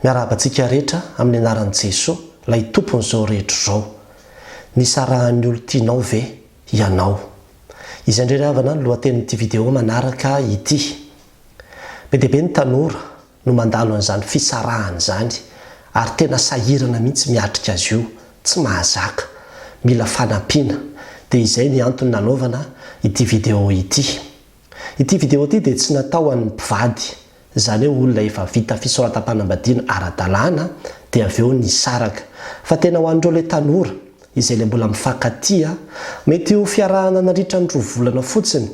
Miarahaba antsika rehetra amin'ny anaran'i Jesoa, ilay Tompon'izao rehetra izao. Nisarahan'ny olon-tianao ve ianao? Izay indray ry havana no lohatenin'ity video manaraka ity. Be dia be ny tanora no mandalo an'izany fisarahana izany ary tena sahirana mihitsy miatrika azy io, tsy mahazaka, mila fanampiana, dia izay ny antony nanaovana ity video ity. Ity vidéo ity dia tsy natao ho an'ny mpivady, izany hoe olona efa vita fisoratam-panambadiana ara-dalàna dia avy eo nisaraka, fa tena ho an'ireo ilay tanora, izay ilay mbola mifankatia, mety ho fiarahana nandritra ny roa volana fotsiny,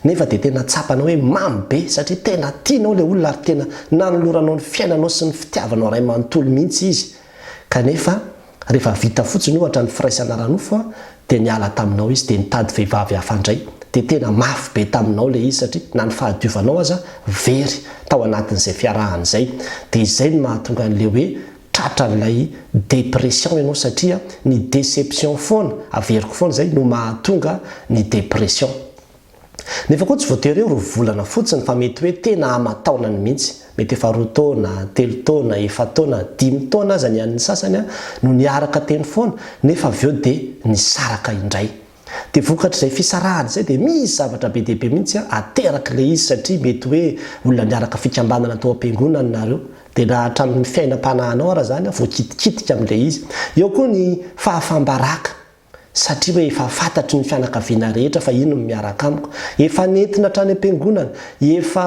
nefa dia tena tsapanao hoe mamy be satria tena tianao ilay olona ary tena nanoloranao ny fiainanao sy ny fitiavanao iray manontolo mihitsy izy, kanefa. Rehefa vita fotsiny ohatra ny firaisana ara-nofo dia niala taminao izy dia nitady vehivavy hafa indray. Dia tena mafy be taminao ilay izy satria na ny fahadiovanao aza very tao anatin'izay fiarahana izay. Dia izay no mahatonga an'ilay hoe tratran'ilay dépression ianao satria ny déception foana, averiko foana izay, no mahatonga ny dépression. Nefa koa tsy voatery hoe roa volana fotsiny fa mety hoe tena aman-taonany mihitsy. Mety efa roa taona, telo taona, efa-taona, dimy taona aza ny an'ny sasany no niaraka teny foana nefa avy eo dia nisaraka indray. Dia vokatr'izay fisarahana izay dia misy zavatra be dia be mihitsy aterak'ilay izy satria mety hoe olona niaraka fikambanana tao am-piangonana nareo dia na hatramin'ny fiainam-panahinao ara izany voakitikitika amin'ilay izy. Eo koa ny fahafam-baraka. satria hoe efa fantatry ny fianakaviana rehetra fa iny no miaraka amiko, efa nentina hatrany am-piangonana, efa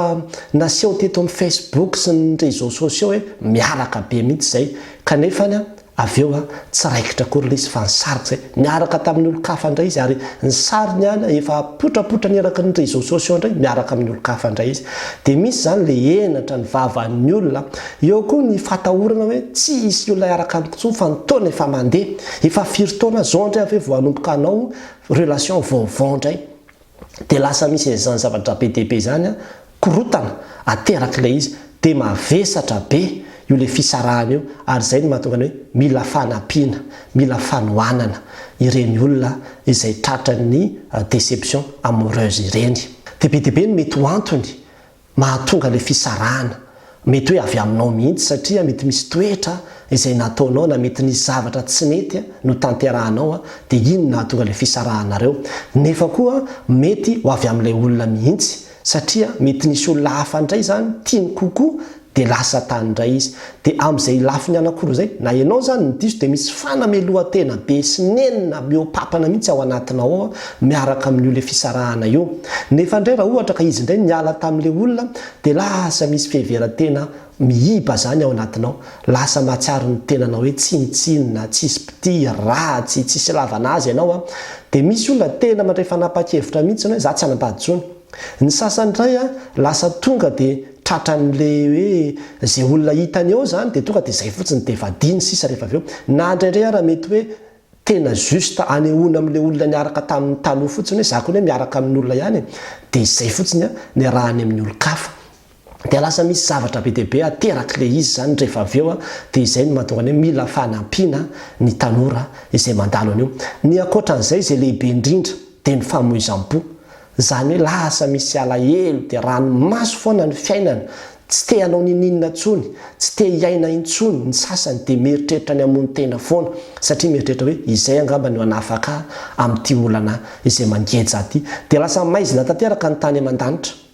naseho teto amin'ny Facebook sy ny réseaux sociaux hoe miaraka be mihitsy izay, kanefa an, avy eo an, tsy raikitra akory ilay izy fa nisarika izay, niaraka tamin'ny olon-kafa indray izy ary ny sariny an, efa apotrapotrany eraky ny réseaux sociaux indray, miaraka amin'ny olon-kafa indray izy. Dia misy izany ilay henatra ny vavan'ny olona, eo koa ny fahatahorana hoe tsy hisy olona hiaraka amiko intsony fa ny taona efa mandeha, efa firy taona zao ndray aveo vao hanomboka hanao relation vaovao ndray de lasa misy an'izany zavatra be dia be izany an, korotana aterak'ilay izy de mavesatra be io le fisarahana io ary izay no mahatonga ny hoe mila fanampiana, mila fanohanana ireny olona izay tratran'ny deception amoureuse ireny. De be dia be ny mety ho antony Mahatonga ilay fisarahana. Mety hoe avy aminao mihitsy satria mety misy toetra izay nataonao na mety nisy zavatra tsy nety notanterahanao dia iny nahatonga ilay fisarahanareo. Nefa koa mety ho avy amin'ilay olona mihitsy satria mety nisy olona hafa indray izany tiany kokoa dia lasa tany indray izy. Dia amin'izay lafiny anakiroa izay, na ianao izany no diso dia misy fanamelohan-tena be sy nenina mihoa-papana mihitsy ao anatinao ao miaraka amin'io ilay fisarahana io. Nefa indray raha ohatra ka izy indray niala tamin'ilay olona dia lasa misy fiheveran-tena miiba izany ao anatinao, lasa mahatsiaro ny tenanao hoe tsinontsinona, tsisy mpitia, ratsy, tsisy ilavana azy ianao. Dia misy olona tena mandray fanapahan-kevitra mihitsy hoe za tsy hanambady intsony. Ny sasany ndray a lasa tonga dia tratran'le hoe ze olona hitany eo zany dia tonga dia zay fotsiny dia vadiny sisa rehefa avy eo. Na indraindray ara mety hoe tena juste hanehoana amle olona niaraka taminy taloha fotsiny hoe za kony miaraka amin'olona ihany e. Dia zay fotsiny a niarahany amin'ny olon-kafa. dia lasa misy zavatra be dia be aterak'ilay izy izany rehefa avy eo, dia izay no mahatonga ny hoe mila fanampiana ny tanora izay mandalo an'io. Ny ankoatra an'izay izay lehibe indrindra dia ny famoizam-po, izany hoe lasa misy alahelo, dia ranomaso foana ny fiainana, tsy te hanao ninoninona intsony, tsy te hiaina intsony, ny sasany dia mieritreritra ny hamono tena foana satria mieritreritra hoe izay angamba no hanafaka ahy amin'ity olana izay mangeja ahy ity. Dia lasa maizina tanteraka ny tany aman-danitra.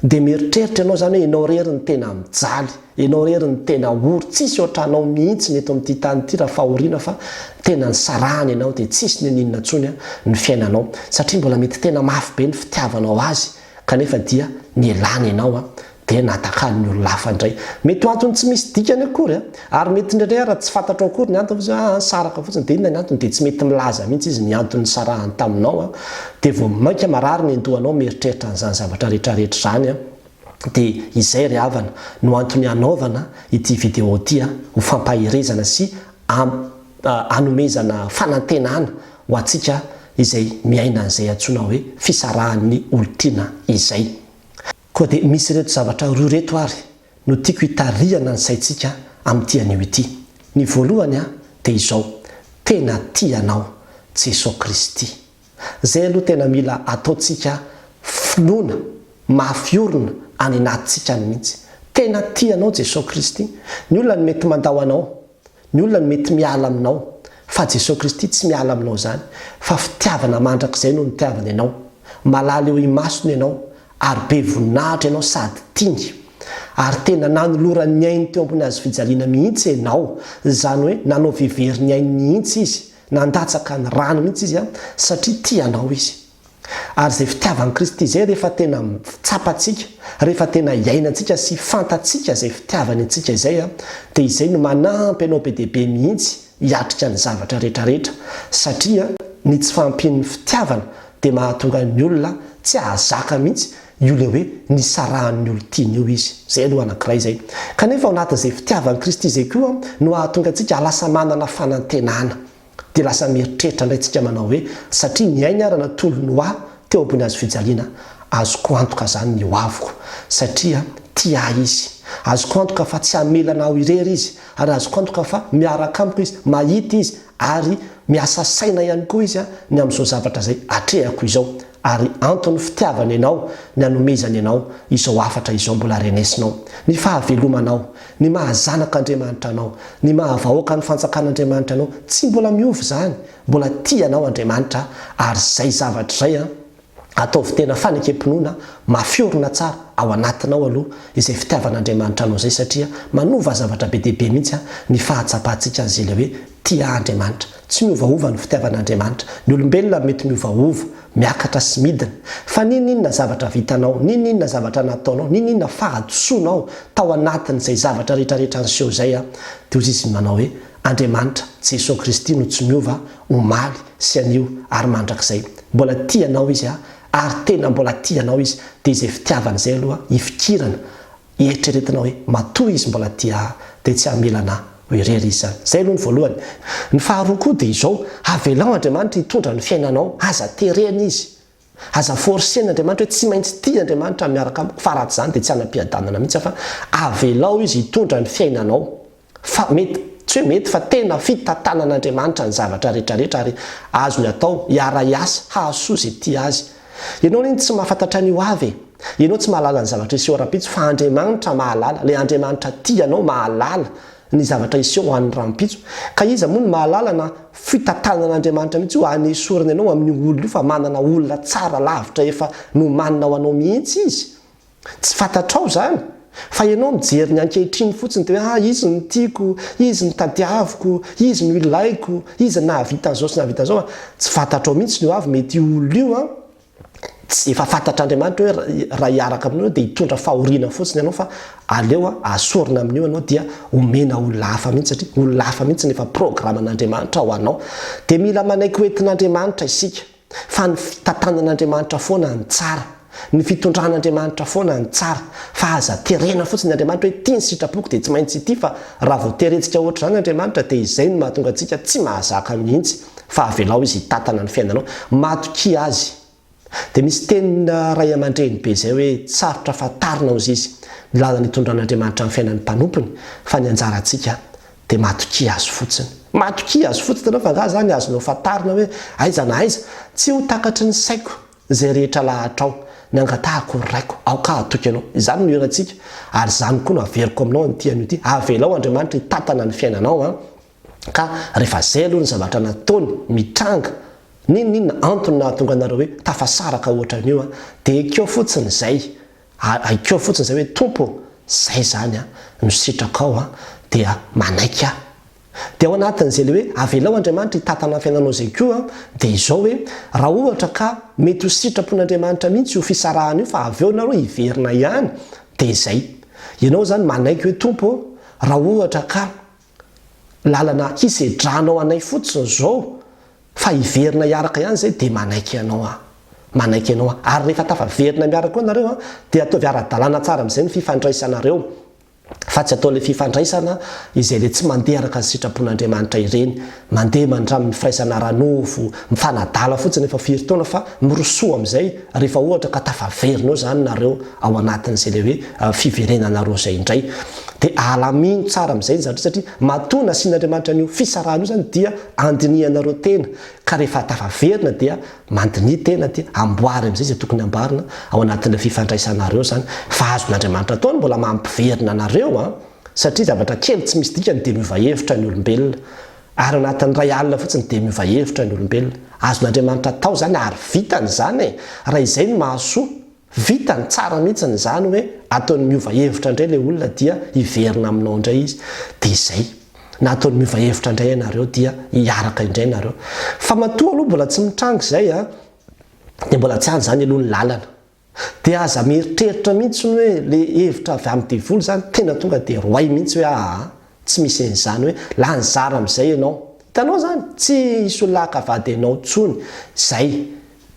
Dia mieritreritra ianao izany hoe ianao irery no tena mijaly, ianao irery no tena ory, tsisy ohatranao mihitsy ny eto amin'ity tany ity raha fahoriana fa tena nisarahana ianao dia tsisy niniana intsony ny fiainanao satria mbola mety tena mafy be ny fitiavanao azy kanefa dia nialany ianao dia natakalon'ny olona hafa indray. Mety ho antony tsy misy dikany akory Ary mety indraindray ara tsy fantatrao akory ny antony fa zao ah nisaraka fotsiny dia inona ny antony dia tsy mety milaza mihintsy izy ny antony nisarahany taminao an dia vao mainka marary ny dohanao mieritreritra an'izany zavatra rehetra rehetra izany an dia izay ry havana no antony hanaovana ity vidéo ity an ho fampaherezana sy hanomezana fanantenana ho antsika izay miaina an'izay antsoina hoe fisarahan'ny olon-tiana izay. Koa dia misy ireto zavatra roa ireto àry no tiako hitarihana ny saintsika amin'ity anio ity. Ny voalohany dia izao, tena tia anao Jesoa Kristy. Izay aloha tena mila ataontsika finoana mafy orina any anatintsika any mihitsy. Tena tia anao Jesoa Kristy. Ny olona no mety mandao anao, ny olona no mety miala aminao, fa Jesoa Kristy tsy miala aminao izany, fa fitiavana mandrakizay no nitiavany anao. Malala eo imasony ianao, ary be voninahitra ianao sady tiany ary tena nanoloran'ny ainy teo ambony hazo fijaliana mihitsy ianao, izany hoe nanao vevery ny ainy mihitsy izy, nandatsaka ny rany mihitsy izy satria tia anao izy. Ary izay fitiavan'i Kristy izay rehefa tena tsapantsika, rehefa tena iainantsika sy fantatsika izay fitiavany antsika izay dia izay no manampy anao be dia be mihitsy hiatrika ny zavatra rehetrarehetra, satria ny tsy fahampian'ny fitiavana dia mahatonga ny olona tsy hahazaka mihitsy io ilay hoe nisarahan'ny olon-tiany io izy. Izay aloha anankiray izay. Kanefa ao anatin'izay fitiavan'i Kristy izay koa no hahatonga antsika lasa manana fanantenana. Dia lasa mieritreritra indray isika manao hoe, satria ny ainy ary natolony ho ahy teo ambony hazo fijaliana, azoko antoka izany ny hoaviko, satria tia ahy izy. Azoko antoka fa tsy hamelana aho irery izy, Ary azoko antoka fa miaraka amiko izy, mahita izy, ary miasa saina ihany koa izy ny amin'izao zavatra izay atrehako izao. Ary anton'ny fitiavany anao ny anomezany anao izao hafatra izao mbola renesinao. Ny fahavelomanao, ny maha zanak'Andriamanitra anao, ny maha vahoakan'ny Fanjakan'Andriamanitra anao, tsy mbola miova izany. Mbola tia anao Andriamanitra, ary izay zavatra izay an. Ataovy tena fanekem-pinoana mafy orina tsara ao anatinao aloha izay fitiavan'Andriamanitra anao izay satria manova zavatra be dia be mihitsy ny fahatsapantsika an'izay ilay hoe tia Andriamanitra. Tsy miovaova ny fitiavan'Andriamanitra. Ny olombelona no mety miovaova, miakatra sy midina. Fa n'inon'inona zavatra vitanao, n'inon'inona zavatra nataonao, n'inon'inona fahadisoanao tao anatin'izay zavatra rehetrarehetra niseho izay dia hozizy ny manao hoe Andriamanitra, Jesoa Kristy no tsy miova, omaly sy anio ary mandrakizay. Mbola tia anao Izy a! Ary tena mbola tia anao Izy, dia izay fitiavany izay aloha ifikirana, eritreretina hoe matoa Izy mbola tia ahy dia tsy hamela anà ho irery Izy izany. Izay aloha ny voalohany. Ny faharoa koa dia izao, avelao Andriamanitra hitondra ny fiainanao, aza terena Izy. Aza forcer ny Andriamanitra hoe tsy maintsy tia Andriamanitra miaraka amiko fa raha tsy izany dia tsy hanam-piadanana mihitsy aho fa avelao izy hitondra ny fiainanao fa mety, tsy hoe mety fa tena fitantanan'Andriamanitra ny zavatra rehetra rehetra ary azony atao hiara-hiasa hahasoa izay tia azy. Ianao anie no tsy mahafantatra ny ho avy e! Ianao tsy mahalala ny zavatra hiseho rahampitso fa Andriamanitra mahalala, ilay Andriamanitra tia anao mahalala ny zavatra hiseho ho an'ny rahampitso. Ka iza moa no mahalala na fitatanan'Andriamanitra mihitsy io hanesorana ianao amin'io olona io fa manana olona tsara lavitra efa nomanina ho anao mihitsy izy? Tsy fantatrao izany? Fa ianao mijery ny ankehitriny fotsiny dia hoe ah izy no tiako, izy no tadiaviko, izy no ilaiko, izy no nahavita an'izao sy nahavita an'izao. Tsy fantatrao mihitsy ny hoavy mety io olona io an! Tsy efa fantatr'Andriamanitra hoe raha hiaraka aminao dia hitondra fahoriana fotsiny ianao fa aleo asorina amin'io ianao dia omena olona hafa mihitsy satria olona hafa mihitsy no efa programan'Andriamanitra ho anao. Dia mila manaiky ho entin'Andriamanitra isika fa ny fitantanan'Andriamanitra foana no tsara, ny fitondran'Andriamanitra foana no tsara fa aza terena fotsiny Andriamanitra hoe ity ny sitrapoko dia tsy maintsy ity fa raha vao terentsika ohatr'izany Andriamanitra dia izay no mahatonga antsika tsy mahazaka mihitsy. fa avelao izy hitantana ny fiainanao, matokia azy, dia misy tenin ray amandreny be izay hoe tsy sarotra fantarina ozy izy ny lalana itondran'Andriamanitra ny fiainan'ny mpanompony fa ny anjarantsika dia matokia azy fotsiny, matokia azy fotsiny ianao fa angaha izany azonao fantarina hoe aiza na aiza, tsy ho takatry ny saiko izay rehetra lahatrao, ny angatahako ry Raiko, aoka hatoky anao, izany no hirantsika ary izany koa no averiko aminao an'ity anio ity, avelao Andriamanitra hitantana ny fiainanao an. Ka rehefa zay aloha ny zavatra nataony mitranga n'inon'inona antony nahatonga anareo hoe tafasaraka ohatran'io an, dia ekeo fotsiny zay, ekeo fotsiny zay hoe Tompo ô, zay zany an, no sitrakao an, dia manaiky aho. Dia ao anatin'izay le hoe avelao Andriamanitra hitantana ny fiainanao zay koa an, dia izao hoe, raha ohatra ka mety ho sitrapon'Andriamanitra mihitsy io fisarahana io fa avy eo nareo hiverina ihany, dia zay. Ianao zany manaiky hoe Tompo ô, raha ohatra ka. lalana hisedranao anay fotsiny zao fa hiverina hiaraka ihany zay de manaiky anao aho manaiky anao aho ary rehefa tafaverina miaraka koa nareo an de ataovy aradalana tsara amizay ny fifandraisanareo fa tsy atao le fifandraisana izay le tsy mandeha araka ny sitrapon'Andriamanitra ireny Mandeha mandramin'ny firaisana ara-nofo mifanadala fotsiny efa firy taona fa mirosoa amin'izay rehefa ohatra ka tafaverinao izany nareo ao anatin'izay ilay hoe fiverenanareo izay indray. Dia alamino tsara amin'izay ny zavatra satria matoa nasian'Andriamanitra an'io fisarahana io izany dia andinihanareo tena ka rehefa tafaverina dia mandiniha tena dia amboary amin'izay izay tokony amboarina ao anatin'ilay fifandraisanareo izany fa azon'Andriamanitra atao ny mbola mampiverina anareo an! satria zavatra kely tsy misy dikany dia miova hevitra ny olombelona, ary anatin'ny iray alina fotsiny dia miova hevitra ny olombelona. Azon'Andriamanitra atao izany ary vitany izany e! Raha izay no mahasoa, vitany tsara mihitsiny izany hoe ataony miova hevitra indray ilay olona dia hiverina aminao indray izy, dia izay. Na ataony miova hevitra indray ianareo dia hiaraka indray ianareo. Fa matoa aloha mbola tsy mitranga izay an, dia mbola tsy any izany aloha ny lalana. Dia aza mieritreritra mihitsy ny hoe le hevitra avy amin'ny devoly zany tena tonga dia roay mihitsy hoe aa tsy misy an'izany hoe lany zara amin'izay ianao. Hitanao zany? Tsy hisolaka vady anao tsony zay.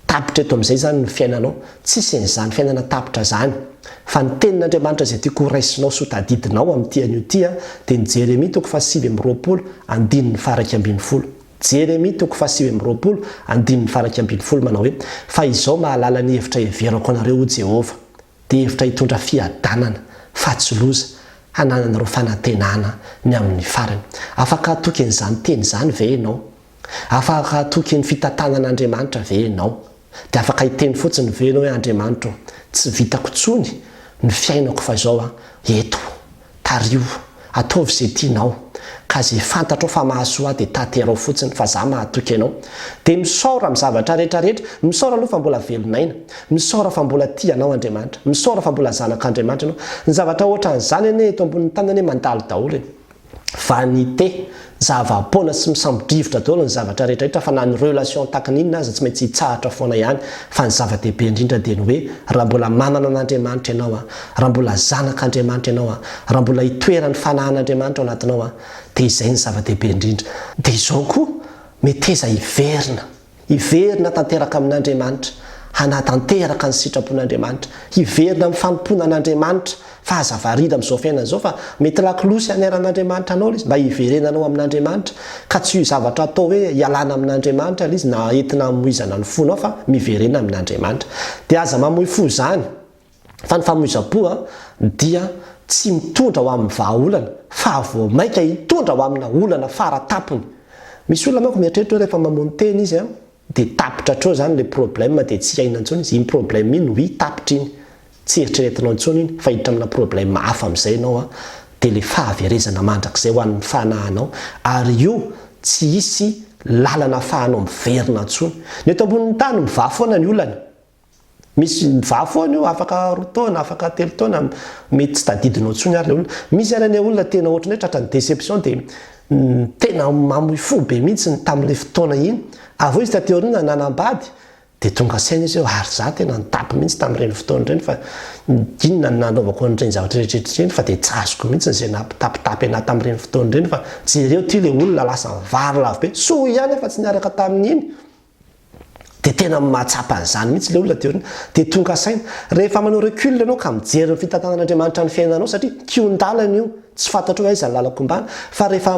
Tapitra eto amin'izay zany ny fiainanao. Tsisy an'izany fiainana tapitra zany. Fa ny tenin'Andriamanitra izay tiako horaisinao sy hotadidinao amin'ity anio ity dia ny Jeremia toko faha sivy amby roapolo andininy faha iraika ambin'ny folo. Jeremia toko fahasivy amby roapolo, andininy faharaika ambin'ny folo, manao hoe, Fa izao mahalala ny hevitra heverako anareo, hoy Jehovah, dia hevitra hitondra fiadanana, fa tsy loza, hanananareo fanantenana ny amin'ny farany. Afaka hatoky an'izany teny izany ve ianao? Afaka hatoky ny fitantanan'Andriamanitra ve ianao? Dia afaka hiteny fotsiny ve ianao hoe Andriamanitra o, tsy vitako intsony ny fiainako fa izao an, eto, tariho, ataovy izay tianao, ka izay fantatrao fa mahasoa ahy dia tanterao fotsiny fa za mahatoky anao, dia misaora amin'ny zavatra rehetra rehetra, misaora aloha fa mbola velon'aina, misaora fa mbola tia anao Andriamanitra, misaora fa mbola zanak'Andriamanitra ianao, ny zavatra ohatran'izany anie eto ambonin'ny tany anie mandalo daholo e. vanité, zava-poana sy misambo-drivotra daholo ny zavatra rehetra rehetra fa na ny relation tahaka ny inona aza tsy maintsy hitsahatra foana ihany fa ny zava-dehibe indrindra dia ny hoe raha mbola manana an'Andriamanitra ianao an, raha mbola zanak'Andriamanitra ianao an, raha mbola itoeran'ny fanahan'Andriamanitra ao anatinao an dia izay ny zava-dehibe indrindra. Dia izao koa, meteza hiverina. Hiverina tanteraka amin'Andriamanitra, hanatanteraka ny sitrapon'Andriamanitra, hiverina amin'ny fanompoana an'Andriamanitra, fa aza variana amin'izao fiainana izao fa mety lakolosy haneran'Andriamanitra anao ilay izy mba hiverenanao amin'Andriamanitra ka tsy io zavatra atao hoe hialana amin'Andriamanitra ilay izy na entina hamoizana ny fonao fa miverena amin'Andriamanitra dia aza mamoy fo izany Fa ny famoizam-po dia tsy mitondra ho amin'ny vahaolana, fa vao mainka hitondra ho amina olana fara tampony. Misy olona manko mieritreritra hoe rehefa mamono tena izy dia tapitra hatreo izany ilay problème dia tsy hiaina intsony izy. Iny problème iny oui tapitra iny, tsy eritreretinao intsony iny fa hiditra amina problème hafa amin'izay ianao dia ilay fahaverezana mandrakizay ho an'ny fanahinao ary io tsy hisy lalana afahanao miverina intsony. Ny eto ambonin'ny tany mivaha foana ny olana. Misy vaha foana io, afaka roa taona, afaka telo taona, mety tsy tadidinao intsony ary ilay olona. Misy ary anie olona tena ohatran'ny hoe tratran'ny déception dia tena mamoy fo be mihitsy tamin'ilay fotoana iny. Avy eo izy taty aoriana nanambady dia tonga saina izy hoe ary za tena nitampy mihitsy tamin'ireny fotoana ireny fa inona no nanaovako an'ireny zavatra rehetra ireny fa dia tsy azoko mihitsy izay nampitapitapy anah tamin'ireny fotoana ireny fa jereo ity ilay olona lasa vary lavo be. Soa ihany aho fa tsy niaraka tamin'iny. Dia tena mahatsapa an'izany mihitsy ilay olona dia hoe dia tonga saina. Rehefa manao recul ianao ka mijery ny fitantanan'Andriamanitra ny fiainanao satria kihon-dalana io, tsy fantatrao hoe aiza ny lalako ombana fa rehefa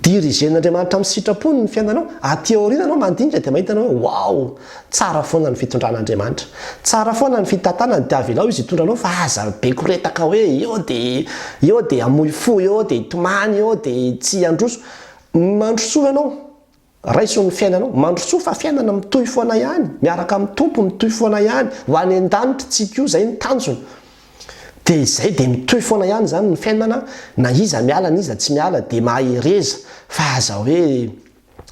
dirigen'Andriamanitra amin'ny sitrapony ny fiainanao, aty aoriana ianao mandinika dia mahita anao hoe wow! tsara foana ny fitondran'Andriamanitra. Tsara foana ny fitantanany dia avelao Izy hitondra anao fa aza be koretaka hoe eo dia eo dia hamoy fo, eo dia hitomany, eo dia tsy handroso. Mandrosoa ianao. Raiso ny fiainanao. Mandrosoa fa fiainana mitohy foana ihany, miaraka amin'ny Tompo mitohy foana ihany, ho any an-danitra tsy ko izay ny tanjona. Dia izay dia mitohy foana ihany izany ny fiainana na iza miala na iza tsy miala dia mahereza fa aza hoe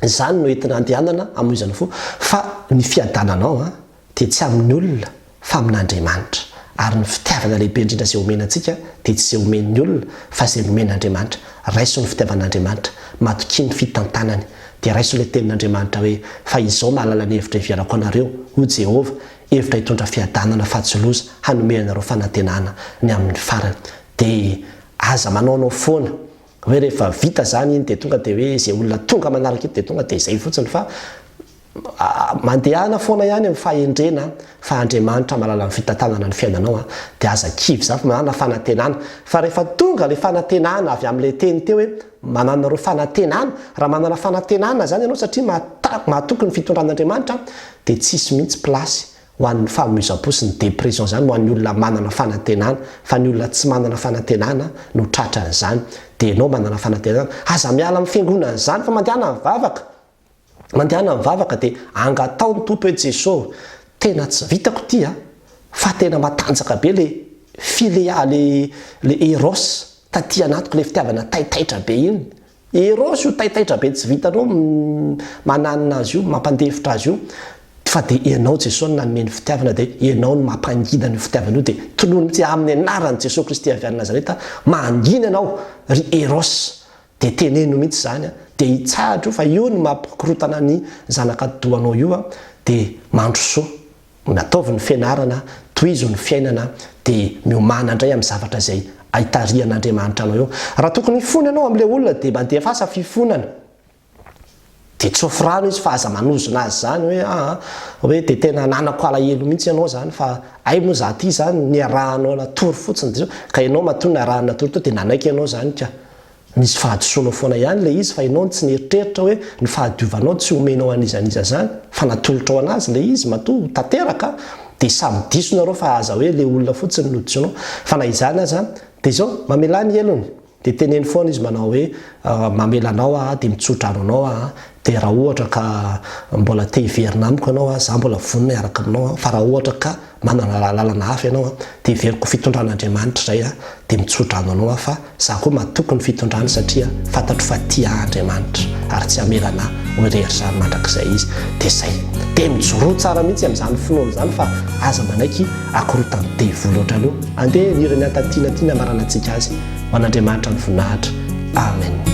izany no entina andehanana hamoizana fo fa ny fiadananao an! dia tsy amin'ny olona fa amin'Andriamanitra, ary ny fitiavana lehibe indrindra izay omena antsika dia tsy izay omen'ny olona fa izay nomen'Andriamanitra, raiso ny fitiavan'Andriamanitra, matokia ny fitantanany, dia raiso ilay tenin'Andriamanitra hoe, Fa izao mahalala ny hevitra iheverako anareo, hoy Jehovah, hevitra hitondra fiadanana fa tsy loza, hanome anareo fanantenana ny amin'ny farany. DH, Aza manaonao foana. hoe rehefa vita zany iny de tonga de hoe ze olona tonga manaraka eto de tonga de zay fotsiny fa mandehana foana ihany ny fahendrena fa Andriamanitra mahalala ny fitantanana ny fiainanao a de aza kivy zany fa manana fanantenana fa rehefa tonga le fanantenana avy amle teny teo hoe manana reo fanantenana raha manana fanantenana zany ianao satria mahatoky ny fitondran'Andriamanitra de tsisy mihitsy place ho an'ny famoizam-po sy ny dépression izany ho an'ny olona manana fanantenana fa ny olona tsy manana fanantenana no tratra an'izany dia ianao manana fanantenana aza miala amin'ny fiangonana izany fa mandehana mivavaka mandehana mivavaka dia angatao ny Tompo hoe Jeso tena tsy vitako ity a fa tena matanjaka be le filea le le eros taty anatiko le fitiavana taitaitra be iny Eros io taitaitra be tsy vitanao mananina azy io, mampandefitra azy io, fa dia ianao Jesosy no nanome ny fitiavana dia ianao no mampangina an'io fitiavana io dia tolory mitsy aminy anarany Jesosy Kristy avy any Nazareta mangina anao ry Eros dia teneno mitsy zany dia itsahatra io fa io no mampikorotana ny zanaka dohanao io dia mandrosoa Ataovy ny fianarana, tohizo ny fiainana, dia miomàna indray amin'ny zavatra izay aitarihan'Andriamanitra anao eo. Raha tokony hifona ianao amin'ilay olona dia mandefasa fifonana. Dia tsofy rano izy fa aza manozona azy izany hoe aa hoe dia tena ananako alahelo mihitsy ianao izany fa hay moa izaho ity izany niarahanao natory fotsiny dia izao ka ianao matoa niarahany natory teo dia nanaiky ianao izany ka. Misy fahadisoanao foana ihany ilay izy fa ianao no tsy nieritreritra hoe ny fahadiovanao tsy homenao an'iza an'iza izany fa natolotrao anazy ilay izy matoa ho tanteraka dia samy diso nareo fa aza hoe ilay olona fotsiny no dison fa na izany aza dia izao mamelà ny helony dia teneno foana izy manao hoe mamela anao aho dia mitsodrano anao aho dia raha ohatra ka mbola te hiverina amiko ianao aho za mbola vonona hiaraka aminao aho fa raha ohatra ka Manana lalana hafa ianao an, dia heveriko fitondran'Andriamanitra izay an, dia mitsodrano anao aho fa za koa matoky ny fitondrany satria fantatro fa tia ahy Andriamanitra ary tsy hamelana ahy ho irery izany mandrakizay izy, dia zay. Dia mijoroa tsara mihitsy amin'izany finoana izany fa aza manaiky hakorotany devoly ohatran'io. Andeha heniry ny antatinany ity ny hamaranantsika azy. Ho an'Andriamanitra ny voninahitra. Amen.